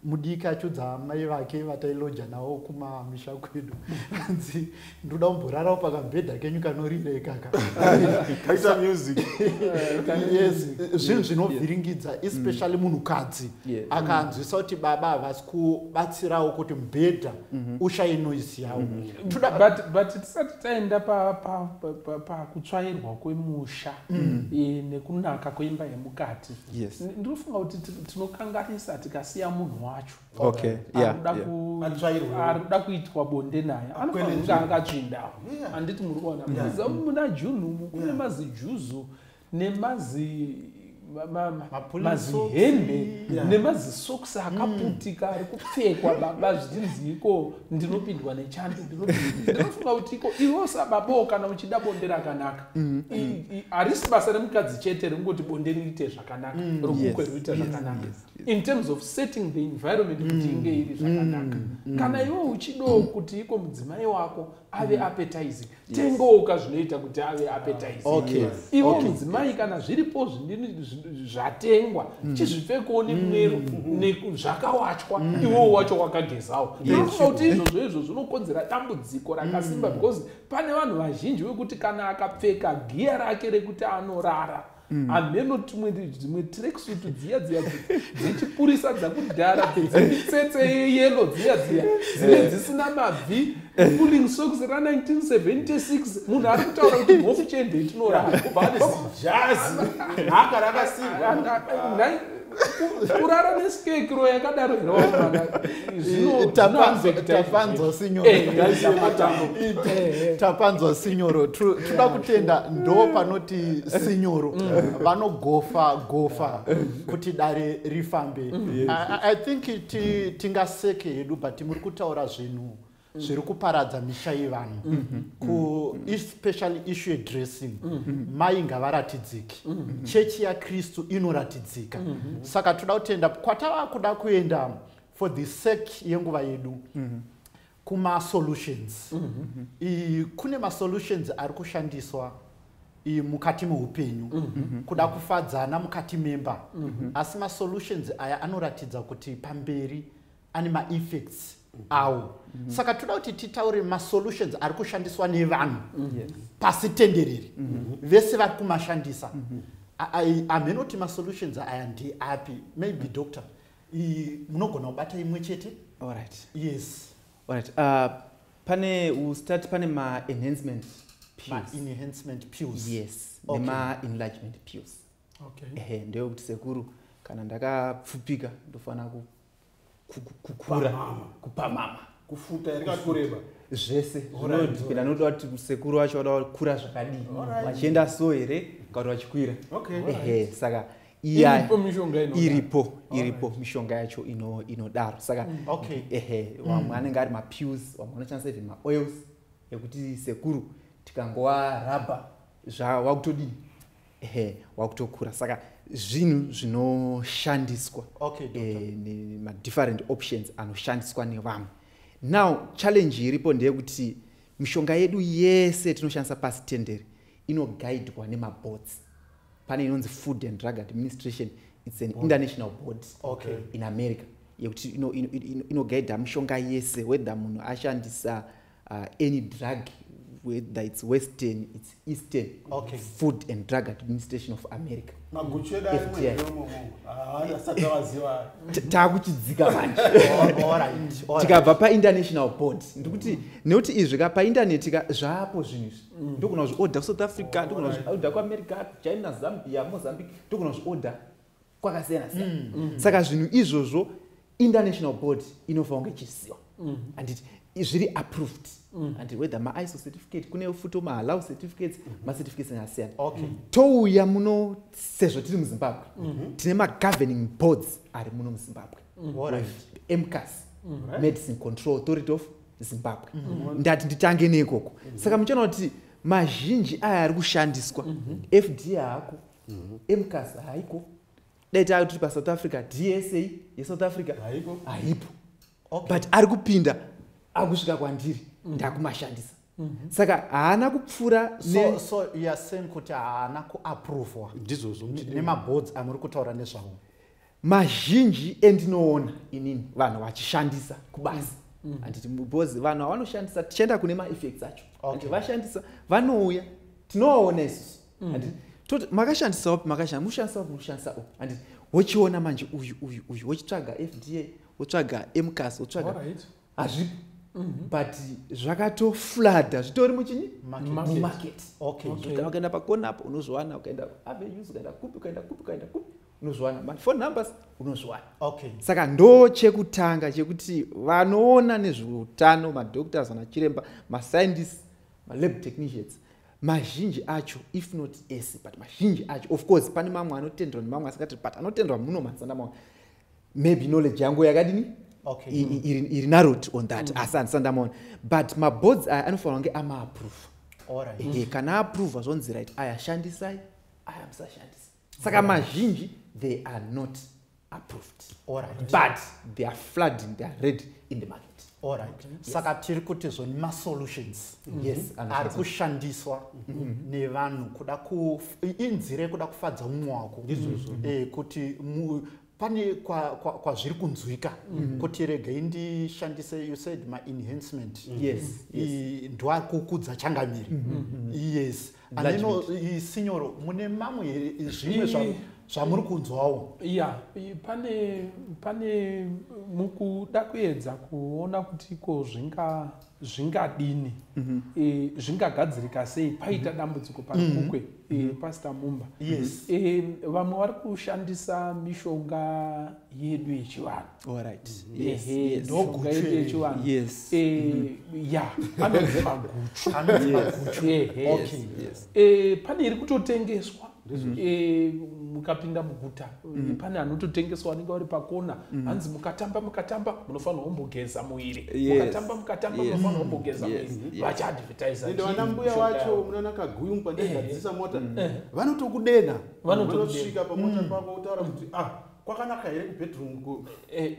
mudiki achudza amai vake vatailoja nawo kumamisha kwedu anzi ndoda kumborarawo pakambhedha kenyu kanorira ikaka kaita music yes zvinhu zvinovhiringidza especially munhukadzi akanzwisa kuti baba havasi kubatsirawo kuti mubhedha mhm. ushaye noise yawo mhm. but tisati taenda pakutsvairwa kwemusha mhm. e, nekunaka kweimba yemukati ndinofunga kuti tinokanganisa tikasiya munhu wacho okay yeah, arikuda yeah. ku- Atsvairwe. arikuda kuitwa bonde naye anofanira kunge Akwenenzvera. akatsvindawo Yeah. handiti muri kuona muziva muna june umu kune Yeah. mazijuzu nemazi ma- ma- ma- Mapulisi mazihembe socks. Yeah. nemazisokisi akaputika ari kupfekwa baba zvichinzi iko ndinopindwa nechando ndinopindwa- ndinofunga kuti iko iwo sababawo kana uchida bonde rakanaka I- i- harisi basa remukadzi chete rekungoti bonde riite zvakanaka romukwe Yes, riite yes, zvakanaka yes. in terms of setting the environment kuti mm. inge iri zvakanaka mm. mm. kana iwe uchidawo kuti iko mudzimai wako ave appetizing tengooka zvinoita kuti ave appetizing ivo mudzimai kana zviripo zvindini zvatengwa chizvipfekewo nemwero zvakawachwa iwowo wacho wakagezawo inoona kuti izvozvo izvo zvinokonzera dambudziko rakasimba because pane vanhu vazhinji vekuti kana akapfeka giya rake rekuti anorara Mm. hameno tumwe dzimwe tracksuit dziya dziya dzechipurisa dzakudhara dzemitsetse yeyelo dziya dziya dzine eh. dzisina mabvi pulling socks ra1976 munhu ari kutaura kuti mhofu chende itinoraaasi kurara neskekiro yakadaro inotapanzwa sinyorotapanzwa sinyoro tinoda kutenda ndo panoti sinyoro mm. vanogofa gofa kuti dare rifambe i think tingaseke hedu but muri kutaura zvinhu zviri kuparadza misha yevanhu mm-hmm. kuespecially mm-hmm. issue yedressing mm-hmm. mai ngavaratidzike chechi yakristu inoratidzika saka toda kutenda kwatava kuda kuenda for the sake yenguva yedu kumasolutions kune masolutions ari kushandiswa mukati meupenyu kuda kufadzana mukati memba asi masolutions aya anoratidza kuti pamberi ane maeffects awo mhm. saka toda kuti titaure masolutions ari kushandiswa nevanhu mhm. pasi tenderere mhm. vese vari kumashandisa amheno kuti masolutions aya ndeapi maybe doctor munogona kubata imwe chete alright yes alright uh, pane ustati pane maenhancement enhancement pills yes okay. nemaenlargement pills okay. ehe ndeyekuti sekuru kana ndakapfupika ndofanira kukura kupamama kufuta here kana kureba zvese zvinodipenda noda kuti sekuru vacho vada vakura zvakadii vachienda so here kana kuti vachikwira ehe saka iripo iripo mishonga yacho inodaro saka mm. ehe mm. vamwe anenge ari mapills vamwe vanoshandisa even maoils ekuti sekuru tikangova rabha zvawakutodii ehe wakutokura saka zvinhu zvinoshandiswa okay, eh, madifferent options anoshandiswa nevamwe now challenge iripo ndeyekuti mishonga yedu yese tinoshandisa pasi tendere inogaidwa nemabotsi pane inonzi food and drug administration its an Board. international board okay. in america yekuti inogaidha ino, ino, ino mishonga yese whether munhu ashandisa uh, any drug whether it's western it's eastern okay. food and drug administration of america takuchidzika ah, manjetikabva painternational board ndikuti nekuti izvi ka paintaneti ka zvaapo zvinhu izvi mm. ndogona kuzviorder kusouth africa ndogona kuzviorder kuamerica china zambia mozambique ndogona kuzviorder kwakasiyana siyana mm. mm. saka zvinhu izvozvo international board inofanira kunge ichiziva mm. anditi zviri approved mm. and whether maiso certificate kune futo mahallow certificates mm -hmm. macertificates akasiyana okay. mm. touya muno sezvo tiri muzimbabwe mm -hmm. tine magoverning boards ari muno muzimbabwe mm. right. mcas mm. right. medicine control authority of zimbabwe mm -hmm. ndati nditange neikoko mm -hmm. saka muchiona kuti mazhinji aya ari kushandiswa mm -hmm. fd ako mhm. mcas haiko dai tava tiri pasouth africa dsa yesouth africa haipo haipo okay. but ari kupinda akusvika kwandiri mm. ndakumashandisa mm -hmm. saka haana kupfuura so, so yasen kuti haana kuaprovwa ndizvozvo nemaboards amuri kutaura nezvavo mazhinji endinoona inini vanhu vachishandisa kubasa mm. mm. anditi because vanhu avanoshandisa tichaenda kune maeffects acho okay. vashandisa vanouya tinovaona isusu mm. and toti makashandisa wapi makashandisa mushandisa wapi mushandisa o and wochiona manje uyu uyu uyu wochitsvaga fda wotsvaga mcas wotsvaga hazvipo mhm. but zvakatoflada zvitori muchini mumarket ukaenda pakona apo unozviwana ukaenda avenues ukaenda kupi ukaenda kupi ukaenda kupi unozviwana maphone numbers unozviwana okay. saka ndo chekutanga chekuti vanoona nezveutano madoctors vanachiremba mascientists malab technicians mazhinji acho if not ese but mazhinji acho of course pane mamwe anotendwa nemamwe asingati but anotendwa muno mazana mamwe maybe knowledge yangu yakadini okay. mm. iri, iri narot on that mm. asi andisandamaona but maboards aya anofanira kunge amaaprova right. mm. kana aprova zvonzi right aya shandisai aya musashandisa saka mazhinji they are not approved right. but they are flooding they are ready in the market Alright. Yes. saka tiri kuti zvo ni masolutions mm -hmm. yes. Mm-hmm. ari kushandiswa mm -hmm. nevanhu kuda inzira yekuda kufadza umwe wako mm -hmm. e, kuti pane kwazviri kunzwika mm. kuti regei ndishandise you said maenhancement mm. yes, yes. ndoari kukudza changamire mm -hmm. yes aneno sinyoro mune mamwe here zvimwe zvavo zvamuri kunzwawo ya pane pane mukuda kuedza kuona kuti ko zvinga zvingadini mm -hmm. e, zvingagadzirika sei paita mhm. dambudziko parikukwe mm -hmm. e, mhm. pastor mumba yes. e, vamwe vari kushandisa mishonga yedu yechivanhu ndoshonga yedu yechivanhu yes. e, mm -hmm. ya anonzi maguchu pane iri kutotengeswa mukapinda muguta mm. pane anototengeswa anenge vari pakona mm. hanzi mukatamba mukatamba munofanirwa kumbogeza muiri mukatamba mukatamba munofanirwa kumbogeza muiri vachiadvertisaende vana mbuya wacho munaona kaguyu mupandegadzisa eh. mota eh. vanotokudenha vanotosvika pamota mm. pako utaura kuti ah kwakanaka here kubedroom ko eh,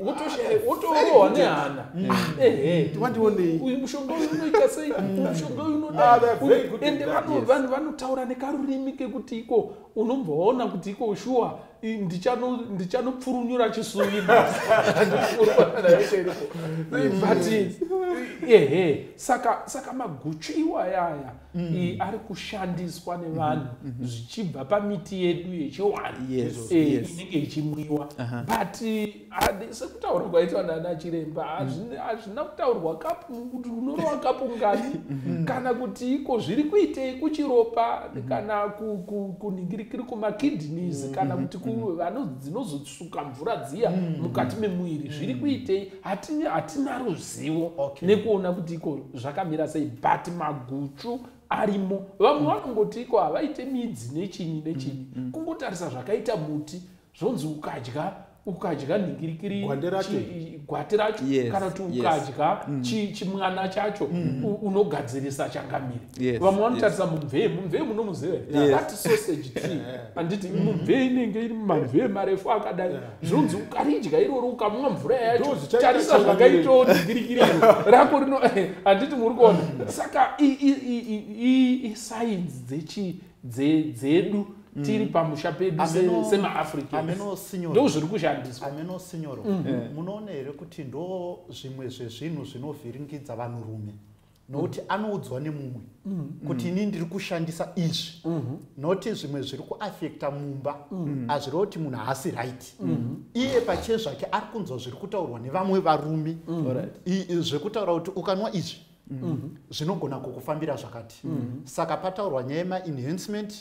wotorohwa ah, nehana mm. eh, eh. wandionei uyu mushonga uyu unoita sei mm. mushonga uyu unodaende ah, vanhu vanotaura nekarurimi kekuti iko unombva waona kuti iko shuwa ndichanopfurunyura chisuvii but ehe saka maguchu iwayaya mm. iyi ari kushandiswa nevanhu mm -hmm. zvichibva pamiti yedu yechiwani yes, eh, yes. inenge ichimwiwa uh -huh. but eh, sekutaurwa kwaitwa nana chiremba hazvina mm. kutaurwa kuti unorowa kapu ngani mm -hmm. kana kuti iko zviri kuitei kuchiropa mm -hmm. kana kuningirikiri ku, ku, kumakidneys mm -hmm. kana mm-hmm. kuti mm-hmm. dzinozotsuka mvura dziya mm -hmm. mukati memuviri zviri kuitei hatina hatina ruzivo okay. nekuona kuti iko zvakamira sei but maguchu arimo vamwe mm. vanongoti iko havaite midzi nechinyi nechinyi mm. mm. kungotarisa zvakaita muti zvonzi ukadya ukadya nhingirikiri gwati racho yes, kana kuti ukadya yes. Mm. chi, chimwana chacho mm. unogadzirisa changamire yes, vamwe vanotarisa yes. mumvee mumvee munomuziva yes. that sausage tree anditi mm. mumvee inenge iri mumamvee marefu akadai yeah. zvonzi ukaridya irori ukamwa mvura yacho tarisa zvakaitawo ndigirikiri iro rako rino handiti muri kuona saka isainzi dzechi dzedu tiri mm. pamusha pedu semaafricando zviri kushandiswa ameno sinyoro mm. eh. munoona here kuti ndo zvimwe zvezvinhu zvinovhiringidza vanhurume nokuti anoudzwa nemumwe kuti ini ndiri kushandisa izvi noti zvimwe zviri kuafekta mumba hazvireva kuti munhu haasi right iye pachiye zvake ari kunzwa zviri kutaurwa nevamwe varume zvekutaura kuti ukanwa izvi zvinogona kukufambira zvakati saka pataurwa nyaya yemaenhancement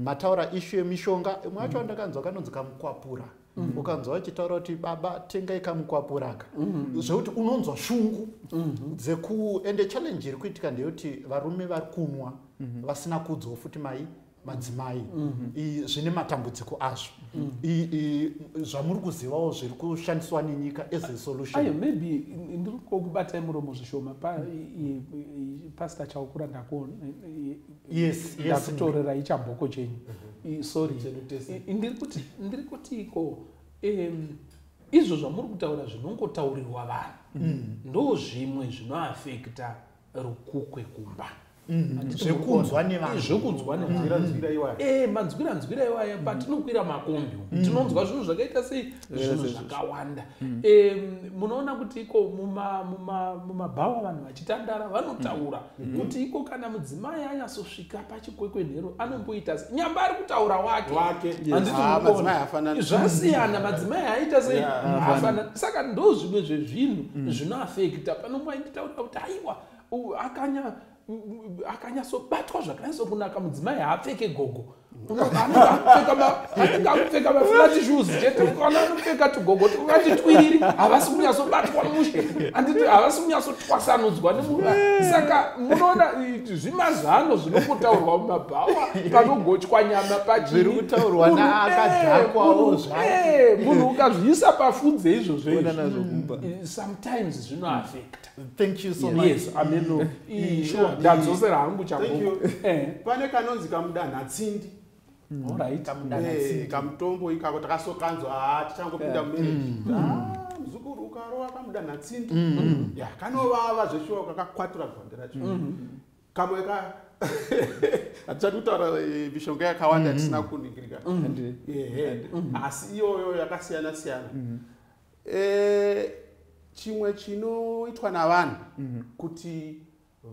mataura ishu yemishonga imwe yacho andakanzwa kanonzi kamukwapura mm. ukanzwa vachitaura kuti baba tengai kamukwapuraka mm. zvekuti unonzwa shungu mm-hmm. dzeku ende challenge iri kuitika ndeyekuti varume vari kunwa mm-hmm. vasina kudzwa futi mai madzimai mm-hmm. zvine matambudziko azvo zvamuri kuzivawo zviri kushandiswa nenyika as a solution maybe ndiri kokubatai muromo zvishoma pastor chaukura ndako yes ndakutorera yes, ichabhoko chenyu mhm. sorry ndiri kuti ndiri kuti iko um, izvo zvamuri kutaura zvinongotaurirwa vanhu mm. ndo zvimwe zvinoafekta rukukwe kumba mm. zvekunzwa nevanhuzvekunzwa mm. nevanhu eh, manzwira nzwira iwaya patinokwira makombi tinonzwa zvinhu zvakaita sei zvinhu zvakawanda munoona kuti iko mumabhawa vanhu vachitandara vanotaura mm. Mm. kuti iko kana mudzimai anyasosvika pachikwekwenhero anomboita se nyamba ari kutaura wake zvasiyana madzimai aita sei afanana saka ndo zvimwe zvezvinhu mm. zvinoafekta pano mwainditaura kuti aiwa akanya akanyatsobatwa zvakanatso kunaka mudzimai haapfeke gogo anenge akupfeka maflati shoes chete kana anopfeka tugogo twakati twiriri havasi kunyatsobatwa mushe anditi havasi kunyatsotwasanudzwa nemuva saka munoona zvimazano zvinongotaurwa mumabhawa panogochwa nyama pachirimunhu ukazviisa pafunze izvozvo izvi sometimes zvinoafekta thank you so much yes ameno sure ndadzosera hangu chago eh. pane kanonzi kamudanha tsindi mm. alright eh, kamutombo ikako takasokanzwa ah, tichangopinda eh. mumarriage mm. ah, muzukuru ukarova kamudanha tsindi mm. ya kanovava zveshuwa kakakwatura gwande racho kamwe ka hatichati kutaura mishonga yakawanda tisina kuningirika asi iyoyo yakasiyana siyana e, chimwe chinoitwa navanhu mm -hmm. kuti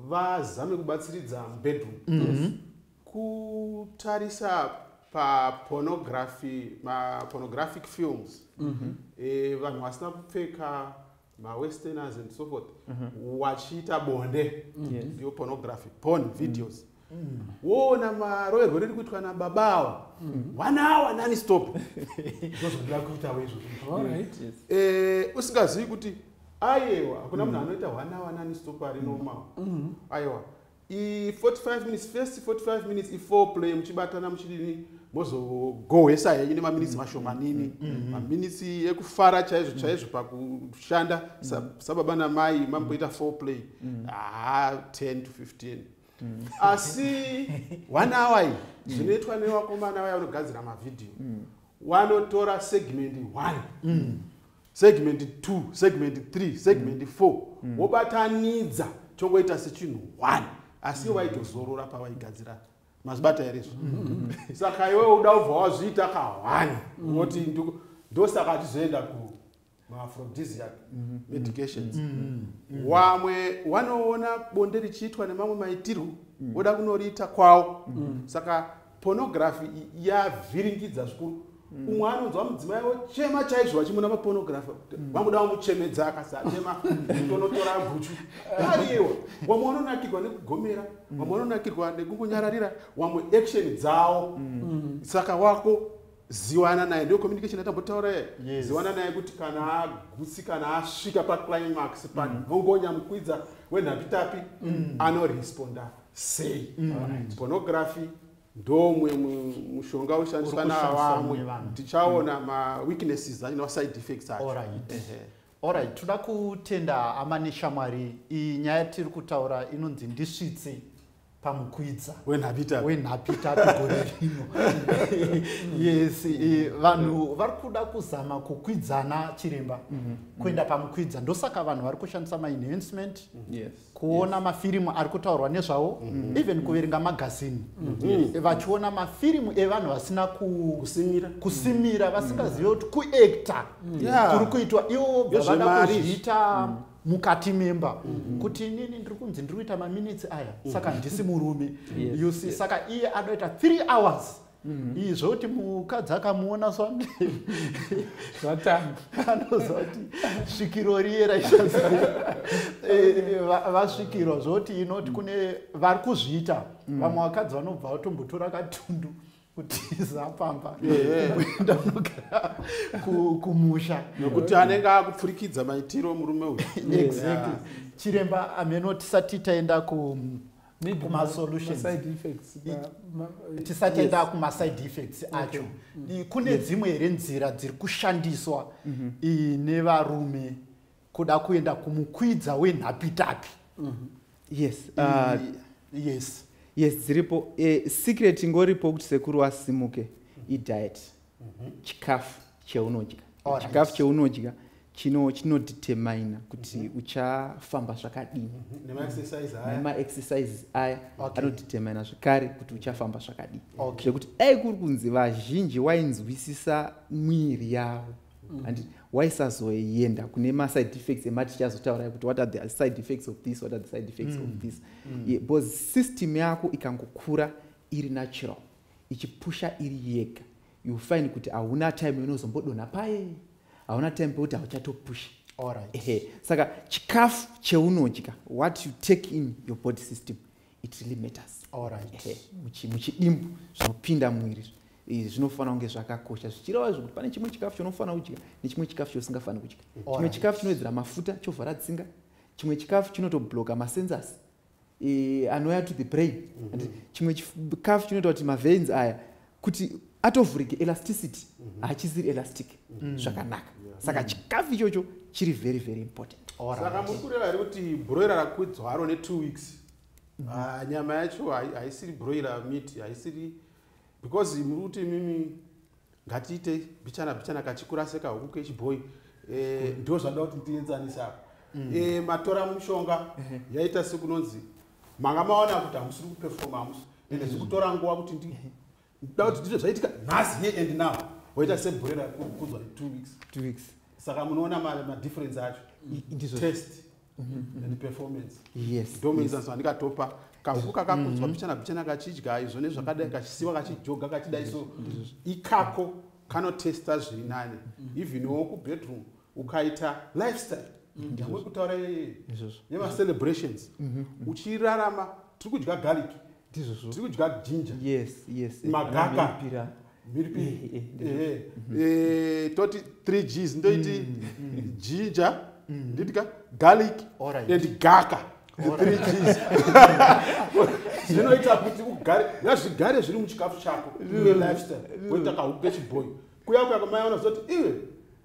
vazame kubatsiridza mubedroom mm -hmm. kutarisa papornography mapornographic films mm -hmm. e, vanhu vasina kupfeka mawesterners and so forth mm -hmm. wachiita bonde mm -hmm. ndiyo pornography porn videos mm -hmm woona maroyerwo riri kuitwa nababa awa one hour nani stop ndozvandira kuitawo izvo eh, usingazivi kuti ayewa hakuna munhu anoita one hour nani stop ari normal ayewa i45 minutes first 45 minutes i4 play muchibatana muchidini mozogohwesa henyu nemaminitsi mm. mashomanini mm, mm, maminitsi ekufara chaizvo chaizvo pakushanda sababa namai mamboita 4 play haa ah, 10 to 15 mm. asi one hour iyi mm. zvinoitwa mm. nevakomana vaya vanogadzira mavhidhiyo mm. wanotora segment one mm. segment two segment three segment mm. four mm. wobatanidza chongoita sechinhu one asi mm. waitozorora pavaigadzira mazibata here izvo mm. saka iwe uda ubva wazviita kahwani mm. woti mm. ndosaka achizoenda ku maaphrodisiac mhm. medications mhm. Mhm. wamwe wanoona bonde richiitwa nemamwe maitirwo voda kunoriita kwawo saka pornography yavhiringidza zvikuru umwe anonzwa mudzimai ochema chaizvo vachimuna mapornography vanguda vamuchemedza akasachema tonotora guchu ariwa wamwe vanonakirwa nekugomera wamwe vanonakirwa nekungonyararira wamwe action dzawo saka wako ziwana naye ndiyo communication yatambotaura ye yes. ziwana naye kuti kana agutsi kana asvika paclimax panhongonya mm. mukwidza wenhapitapi mm. anoresponda sei mm. right. pornography ndomwe mushonga ushandiswa navamwe tichaona mm. maweaknesses acho nemaside effects acho All right. Alright, toda kutenda amane shamwari iyi nyaya tiri kutaura inonzi ndisvitse pamukwidza wenhapitapi gore rino yes eh, vanhu vari kuda kuzama kukwidzana chiremba mhm. kuenda pamukwidza ndosaka vanhu vari kushandisa maenhancement kuona mafirimu ari kutaurwa nezvawo mhm. even kuverenga magazini mhm. eh, vachiona mafirimu evanhu vasina kusimira vasingazive kuti kuacta kuri kuitwa ivo bva vada kuzviita mm -hmm. mukati memba mm -hmm. kuti inini ndiri kunzi ndiri kuita maminitsi aya mm -hmm. saka handisi murume yes. you see yes. saka iye anoita three hours Mm-hmm. iyi zvokuti mukadzi akamuona swande zvatanga anoziva kuti svikiro riye raishazi eh, vasvikirwa zvokuti inoti kune vari kuzviita mm. vamwe vakadzi vanobva vatombotora katundu kutiza pamba kuenda kunogara kumusha nokuti anenge akupfurikidza maitiro murume uyu exactly chiremba ameno tisati taenda ku tisati enda kumaside effects acho mm. kune dzimwe here nzira dziri kushandiswa mm-hmm. nevarume kuda kuenda kumukwidza wenhapitapi mm -hmm. yes uh, yes yes dziripo eh, secret ingoripo kuti sekuru asimuke mm -hmm. idiet mm -hmm. chikafu cheunodya right. chikafu cheunodya chino chinodetermina kuti mm -hmm. uchafamba zvakadini mhm. nemaexercises aya okay. anodetermina zvekare kuti uchafamba zvakadini zvekuti okay. dai kuri kunzi vazhinji wainzwisisa mwiri yavo mm. and waisazoenda kune maside effects ematicha azotaura kuti what are the side effects of this what are the side effects mm. of this mm. yeah, because system yako ikangokura iri natural ichipusha iri yega you find kuti hauna time inozombodonha paye hauna time pekuti hauchatopusha right. saka chikafu cheunodya what you take in your body system mm. it really matters alright muchidimbu zvinopinda muviri izvi zvinofanira kunge zvakakosha zvichireva zvekuti pane chimwe chikafu chaunofanira kudya nechimwe chikafu chausingafaniri kudya chimwe chikafu chinowedzera mafuta chovhara tsinga chimwe chikafu chinotobloka masensors e, anouya to the brain mm-hmm. chimwe chikafu chinoita kuti maveins aya kuti atovhurike elasticity mhm. hachisiri elastic mm. zvakanaka saka mm. chikafu ichocho chiri very very important saka muri kureva here kuti broira rakwidzwa haro netwo weeks mm. ah, nyama yacho haisiri broira meat haisiri because muri kuti mimi ngatiite bichana bichana kachikura sekahuku kechibhoyi eh, ndo zvandaa kuti tienzanisa apa eh, matora mushonga yaita sekunonzi manga maona kuti hamusiri kupefoma hamusi ende zviri kutora nguva kuti ndi ndoda kuti ndizvo zvaitika nhasi here and now woita sebhure rakukudzwa two weeks two weeks saka munoona madifference acho ndizvo test mm-hmm. and performance yes ndomuenzaniso andikatopa kahuku mm-hmm. kakakudzwa mbichana bichana kachidya izvo nezvakadai kachisiwa kachijoga kachidai so ikako kanotesta zviri nani mm-hmm. even wo kubedroom ukaita lifestyle ndamwe kutaura yemacelebrations mhm. uchirarama tiri kudya garlic tiri kudya ginger magaka mhiripiri toti 3 gs ndoiti ginger ndidya garlic and gaka zvinoita kuti ugare ngazvigare zviri muchikafu chako lifestyle woita kahuku kechiboyi kuya kuya kwamaiona zoti iwe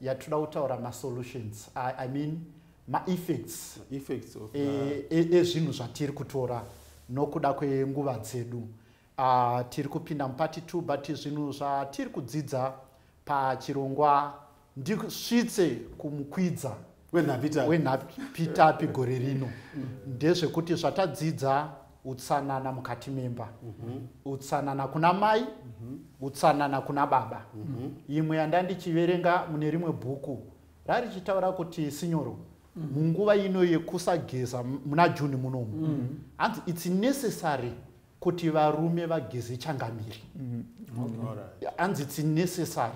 yatinoda kutaura masolutions I, i mean maeffects e, e, ezvinhu zvatiri kutora nokuda kwenguva dzedu uh, tiri kupinda mupati two but zvinhu zvatiri kudzidza pachirongwa ndisvitse kumukwidza wenhapitapi gore rino ndezvekuti zvatadzidza utsanana mukati memba mhm. utsanana kuna mai mhm. utsanana kuna baba mhm. imwe yandandichiverenga mune rimwe bhuku rarichitaura kuti sinyoro munguva ino yekusageza muna juni munomu hanzi its necessary kuti varume vageze changamire mm. hanzi its necessary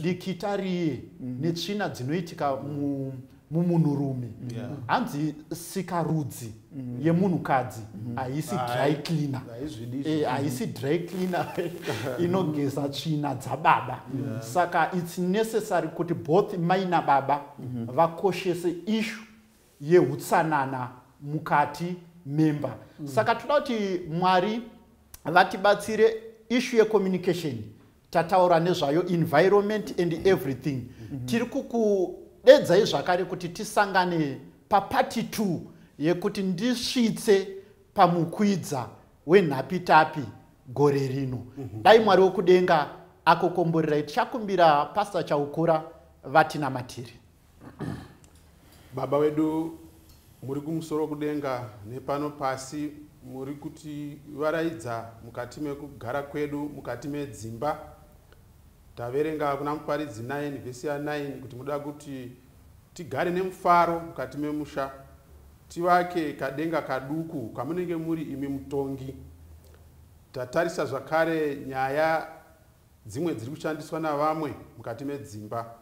dikita riye mm. netsvina dzinoitika mumunhurume hanzi sikarudzi mm. yemunhukadzi haisi dry cleaner eh, haisi dry cleaner inogeza tsvina dzababa saka its necessary kuti both mai nababa vakoshese issue yehutsanana mukati memba mm. saka toda kuti mwari vatibatsire ishu yecommunication tataura nezvayo environment and everything mm -hmm. tiri kukudedzai zvakare kuti tisangane papati t yekuti ndisvitse pamukwidza wenhapitapi gore rino mm -hmm. dai mwari wekudenga akokomborerai tichakumbira pastor chaukura vatinamatiri baba wedu muri kumusoro kudenga nepano pasi muri kuti varaidza mukati mekugara kwedu mukati medzimba taverenga kuna muparidzi 9 vhesi ya 9 kuti muda kuti tigare nemufaro mukati memusha tivake kadenga kaduku kamunenge muri imi mutongi tatarisa zvakare nyaya dzimwe dziri kushandiswa navamwe mukati medzimba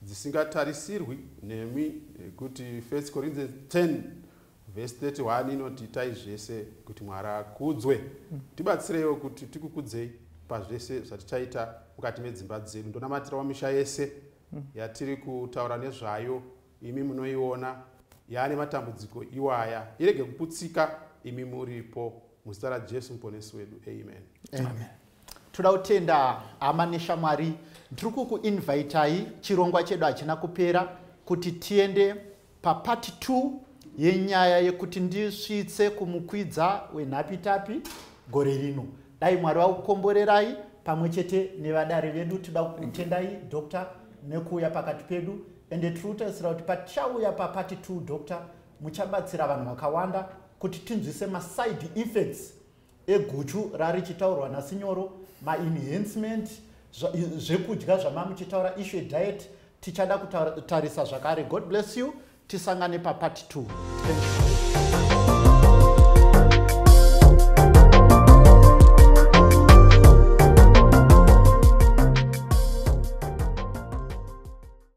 dzisingatarisirwi nemi kuti 1 corinthians 10 vhesi 31 inoti itai zvese kuti mwari akudzwe mm. tibatsireiwo kuti tikukudzei pazvese zvatichaita mukati medzimba dzedu ndonamatira wamisha yese mm. yatiri kutaura nezvayo imi munoiona yaane matambudziko iwaya irege kuputsika imi muripo muzita rajesu muponesi wedu amen, amen. amen. toda kutenda hama neshamwari ndiri kukuinvitai chirongwa chedu hachina kupera kuti tiende papati 2 yenyaya yekuti ndisvitse kumukwidza wenhapitapi gore rino dai mwari vakukomborerai pamwe chete nevadare vedu tida kutendai doctor nekuuya pakati pedu ende tiri kutarisira kuti patichauya papati 2 doctor muchabatsira vanhu vakawanda kuti tinzwise maside effects eguchu rarichitaurwa nasinyoro maenhancement zvekudya zvamamuchitaura issue diet tichada kutarisa zvakare god bless you tisangane papart 2 Thank you.